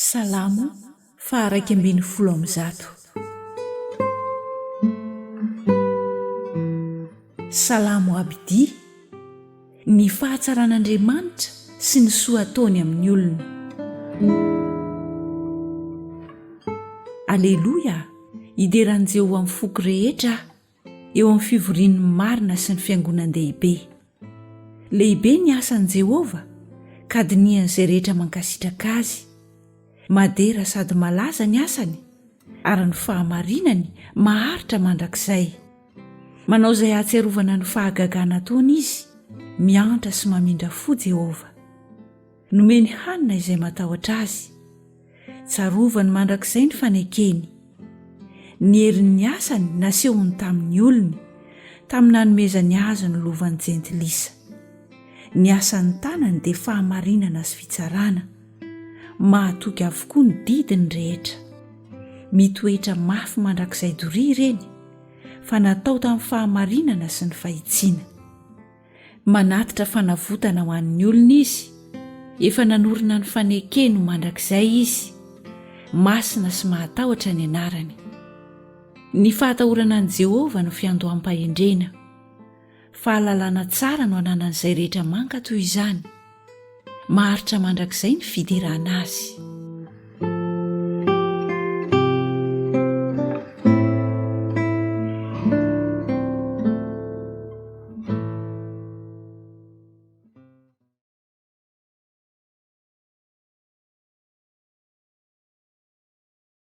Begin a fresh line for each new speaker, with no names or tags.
Salamo faha iraika ambin'ny folo amby zato. Salamo Abdi Ny fahatsaran'Andriamanitra sy ny soa ataony amin'ny olona. Aleloia, idera an'i Jehovah amin'ny foko rehetra aho. eo amin'ny fivorian'ny marina sy ny fiangonan-dehibe. Lehibe ny asan'i Jehovah, ka dinihan'izay rehetra mankasitraka azy. Madera sady malaza ny asany, ary ny fahamarinany maharitra mandrakizay. Manao izay hahatsiarovana ny fahagagana ataony izy, miantra sy mamindra fo Jehovah. Nomeny hanina izay matahotra azy. Tsarovany mandrakizay ny fanekeny. Ny herin'ny asany nasehony tamin'ny olony, tamin'ny nanomezany azy ny lovan'ny jentilisa. Ny asan'ny tanany dia fahamarinana sy fitsarana. Mahatoky avokoa ny didiny rehetra. Mitoetra mafy mandrakizay doria ireny, fa natao tamin'ny fahamarinana sy ny fahitsiana. Manatitra fanavotana ho an'ny olony Izy, efa nanorina ny fanekeny ho mandrakizay Izy, masina sy mahatahotra ny anarany. Ny fahatahorana an'i Jehovah no fiandoham-pahendrena. Fahalalana tsara no ananan'izay rehetra mankato izany. Maharitra mandrakizay ny fiderana azy.